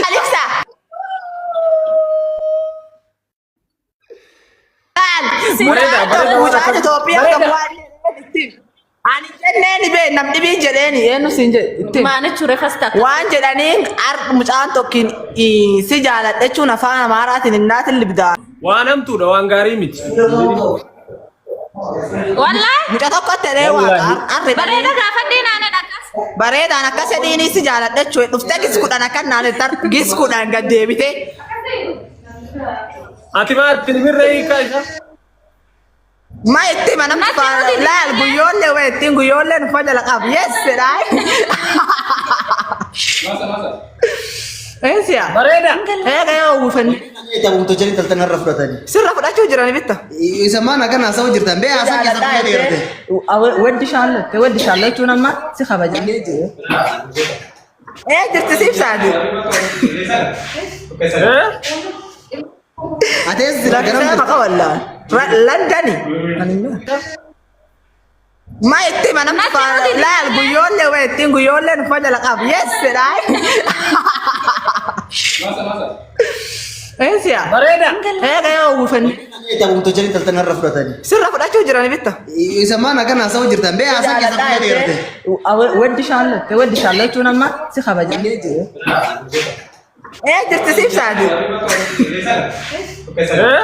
Alexa. Maal? Bareeda, bareeda, Mucaan bareeda. Itoophiyaa kan Bareeda. waan jedheetti. Ani jenneen bee nam dhibii jedheeni eenyu siin jedhe. Maanichu refas taata. Waan jedhaniin ar mucaan tokkiin ii, si jaaladha jechuun afaan amaaraatiin innaatiin libdaa. Waan hamtuudha waan gaarii miti. Wallahi Muca tokko ta'ee waa arre bareeda gaafadhee naana dhaqas. bareedaan akka sedhiinis si jaaladha jechuudha. Dhuftee gis kudhan akka naan tar gis kudhan gad deebitee. Ati maal filmirra hiikaa isaa? Ma itti mana Matti faa nuti laal itti guyyoollee wayittiin guyyoollee nufa jala qabu. Yes jedhaa. Eesiyaa. Bareeda. Eega yaa uwwifannee. Tabuuta jedhanii taltana irra fudhatanii. Sirra fudhachuu jiran bitta. Isa maan akkan haasa'u jirtan bee haasa'u keessatti na dheerate. Waddi shaallotte waddi shaallochuun amma si kabaja. Ee jirti siif saati. Atees jira garam Lakkisaa jirta. maqa wallaa. Landani. Ma itti mana Matti faa nuti itti laal himne. guyyoollee wa ittiin guyyoollee nufa jala qabu. Yes jedhaa. Eesiya. Bareeda. Eega yoo uwwifanne. Eegaa guutuu jireenya taltan har'a fudhatanii. Sirra fudhachuu jiran bitta. Isa maan akkan haasa'u jirtan bee haasaa keessa fudhee dheerate. Weddi shaallatte weddi shaallachuun amma si kabaja. Ee jirti siif saati. Eh?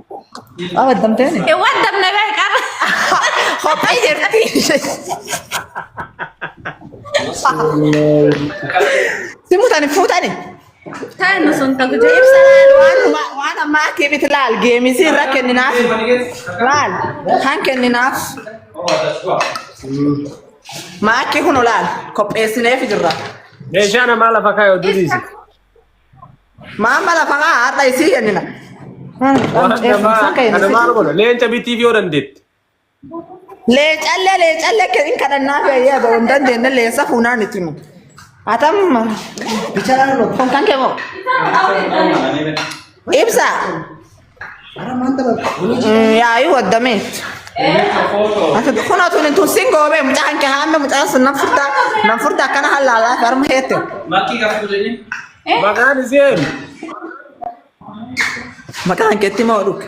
Abaddamtee ni. Ee, Waan damna bee qaba. Kophaa jirti. Si mutani fuutani. Taan nu sun tagu jee. Ibsa laal waan huma- waan ammaa kiibiti laal geemisii irra kenninaaf. Laal kan kenninaaf. Maakkii kun laal qopheessineef jirra. Meeshaa namaa lafa kaayoo diriisi. Maamma lafa kaa haadha isii kennina. Kana maal godha? Leenca bitiif yoo dandeetti. Leecallee leecallee kennin kadhannaa fi ayyaa ta'uu hin dandeenye leensa fuunaan itti himu. Atamma. Bicharaan godha. Kan kan kee moo? Ibsa. Yaayuu waddamee. Ati kun atuun hin tunsin goobee mucaa hanqee haamee mucaa sun nan furdaa nan furdaa akkana hallaalaa fi harma heette. Maqaan iseen. Maqaa hanqeetti moo dhukke.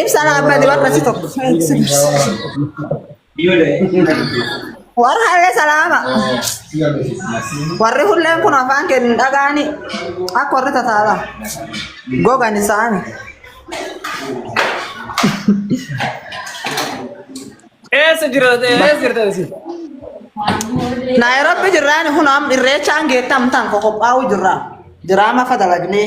Ibsa naaf badi warra si tokko. Warra hallee salaama. Warri hulleen kun afaan kee hin dhagaani akka warri tataala. Gogan isaani. Eessa jira eessa jirta isin? Naayiroobi jirraani kun amma irreechaan geettamtaan qoqophaa'uu jirra. Diraama fadalagnee.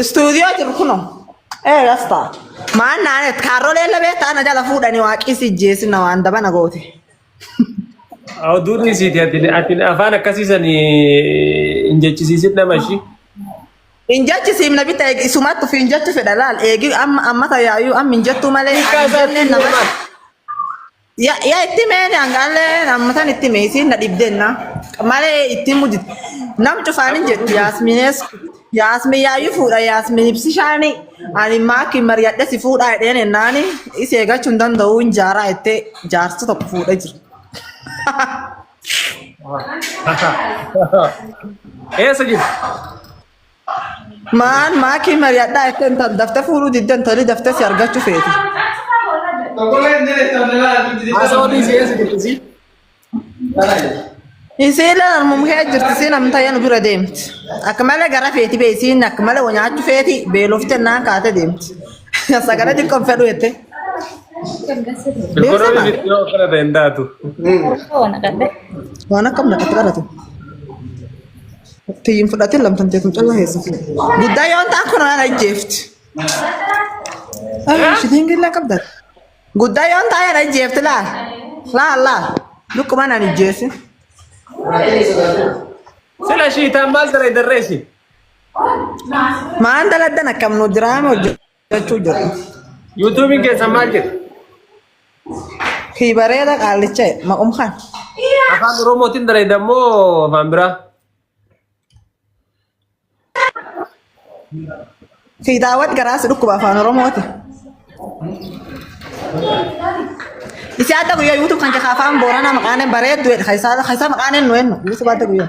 Istuudiyoo jiru kunoo. Ee gastaa. Maan naanet kaarrolee illee beektaa na jala fuudhanii waaqii si jeesina waan daba na goote. Oduu dhiisiiti ati ati afaan akkasii sani hin jechisiisin nama ishii. Hin jechi siimna bitta eegi isumatti fi hin jechu fedha laal eegi amma amma tayaayuu amma hin jettuu malee Hiikaa hin isaa jenneen nama. Ya, ya itti mee angaalee amma san itti mee isiin na dhibdenna. Malee itti mudit. Nam cufaan hin jettu yaasminees. Yaasmin yaayyuu fuudha yaasmin ibsishaani. Ani maaki mariyadhe si fuudhaa jedheen ennaani isi eegachuu hin danda'u hin jaaraa jettee jaarsa tokko fuudha jira. Eessa jirti? Maan maakii mari'adhaa jettee intal daftee fuudhuu didde intalli daftee si argachuu feeti. Asoolii si eessa jirti si? Isiin lalaan mumkee jirti isiin amtayya nu bira deemti. Akka malee gara feeti bee isiin akka malee wa nyaachuu feeti beelofte naan kaate deemti. Sagalee xiqqoon fedhu jette. Economic itti yoo kana ta'e hin taatu. Waan akkam naqatti qaratu. Tiyyin fudhatin lamtan teetum callaa keessa fuudhe. Guddaa yoo ta'an kun waan ajjeefti. Shitiin gillaa qabdan. Guddaa yoo ta'an ajjeefti laal. Laal laal. Lukkuma nan ajjeesi. Sila shiitaan maal dalayddarree ishii? Maan daladdan akkam nu diraama hojjetu. jechuu jiru. Yuutuubiin keessan maal jedhu? Kii bareeda qaallicha maqum kan. Afaan Oromootiin bareeda moo afaan biraa? Kii daawwat garaasi dhukkuba afaan Oromooti. Isi adda guyyaa yuutuub kan jakaa afaan booranaa maqaanen bareeddu jedha. Kaisaa maqaanen nu ennu yuutuub adda guyyaa.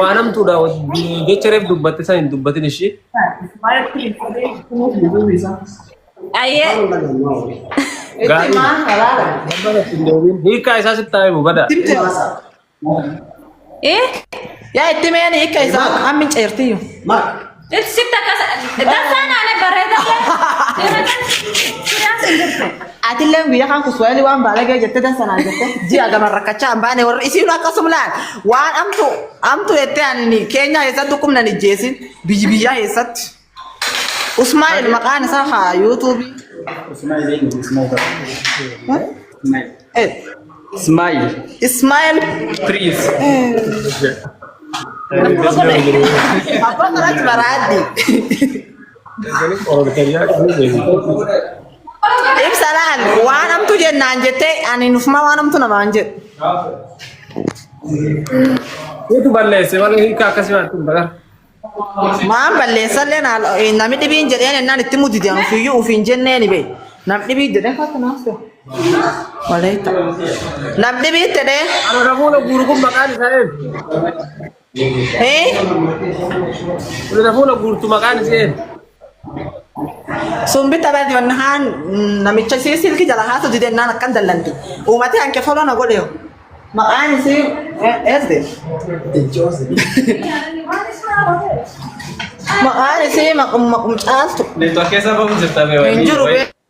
Waan hamtuudha jecha reef dubbatte san hin dubbatin ishii. Ayyee. Gaarii. Hiikaa isaa sitti haa himu badaa. Eh? Yaa itti meeni hiika isaa amma hin ceertiyyuu. Sitti akkas dansaa naanee bareedaa Atillee guyyaa kan kuswaayilii waan baalagee jettee dansa naan jettee ji'a gaman rakkachaa hin baane warri isiin akkasuma laal waan amtu amtu jettee ani keenyaa keessatti dhukkubnan ijjeesin biyyi biyyaa keessatti. Usmaa'il maqaan isaa haa yuutuubii. Usmaa'il eenyu? Usmaa'il. S. Smile. Smile. Please. Apa keras beradi? If salaan waan hamtu jennaan jettee ani nufuma waan hamtu namaan jedhu. Itu balleesse malee hiika akkasii waan tun bagar. Maan balleessallee naal namni dhibiin jedheen ennaan itti mudide an ofiiyyuu ofiin jennee ni bee. Nam dhibii jedhee fakkii naaf ta'u. Waleetta. Nam dhibii itti dhee. Ana rafuuna guuru kun maqaan isaa eenyu? Hee? Ani rafuuna guurtu maqaan isaa eenyu? Sumbi tapha jennaan namicha isii silki jala haatu didennaan akkan dallanti. Uumatee hanqe foloo na godhe maqaan isii eesde. Maqaan isii maqum maqum caaltu. Network keessa bahu jirta bee hin jiru bee.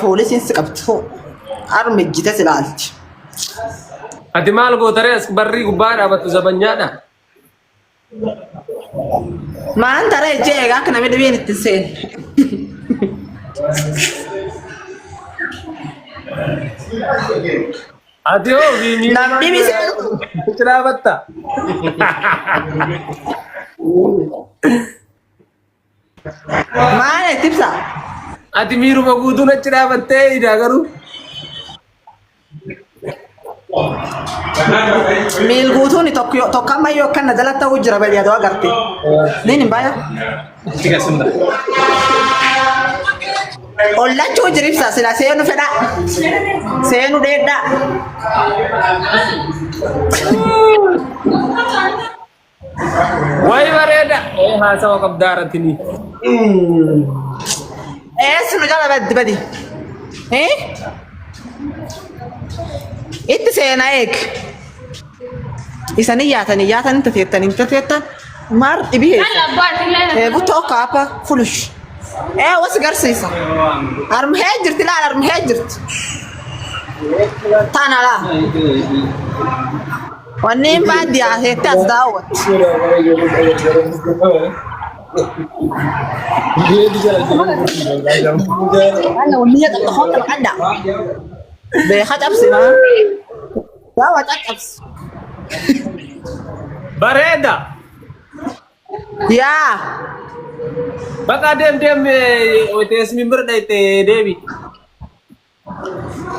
Poolisiin si qabdu harmi ejjite si laalti. Ati maal gootaree as barrii gubbaa dhaabattu zabanyaadha. Maan taree ejjee egaa akka namni dhibeen itti seenu. Ati hoo viimii Namni ni seenu. itti dhaabatta. Maal itti ibsa? Ati miiruma guutuun achi dhaabattee idaa garuu. Miil guutuun tokko tokko amma yoo akkanna jala ta'uu jira bari adoo agarte. Niin hin baaya. Itti gasimna. Ollachuu jira ibsa sila seenu fedha. Seenu dheedha. Way bareeda. Ee haasawa qabdaa irratti ni. Eessuma jala baddi badi. Eh? Itti seena eeg. Isanii yaatanii yaatanii tateettan hin tateettan maar dhibii Kan heessa. abbaa illee na Eegu tokko apa fulush. Ee wasi garsiisa. Armhee jirti laal armhee jirti. Taana laa. Wanneen baadiyyaa keessatti as daawwatti. Anna wanniyya xaxxafoo qaba qadda. Beeka cabsi maa. Gaawa caccabsi. Bareeda. Yaa. Baqa deem deem teessumni bira dhayte deebi.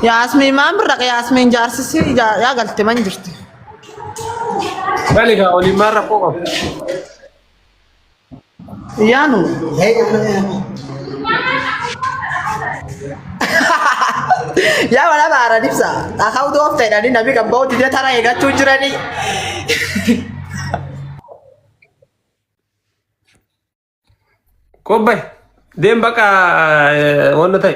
Yaasmiin maan birra yaasmiin jaarsisi yaa galte man jirti. Gali gaa waliin maal rakkoo qabu? Yaanu. Yaa wala baara dibsa. Akau doof ta'edhani nabi kan ba'u didee tara eegachuu jirani. Qobbay deem baqa wanna ta'e.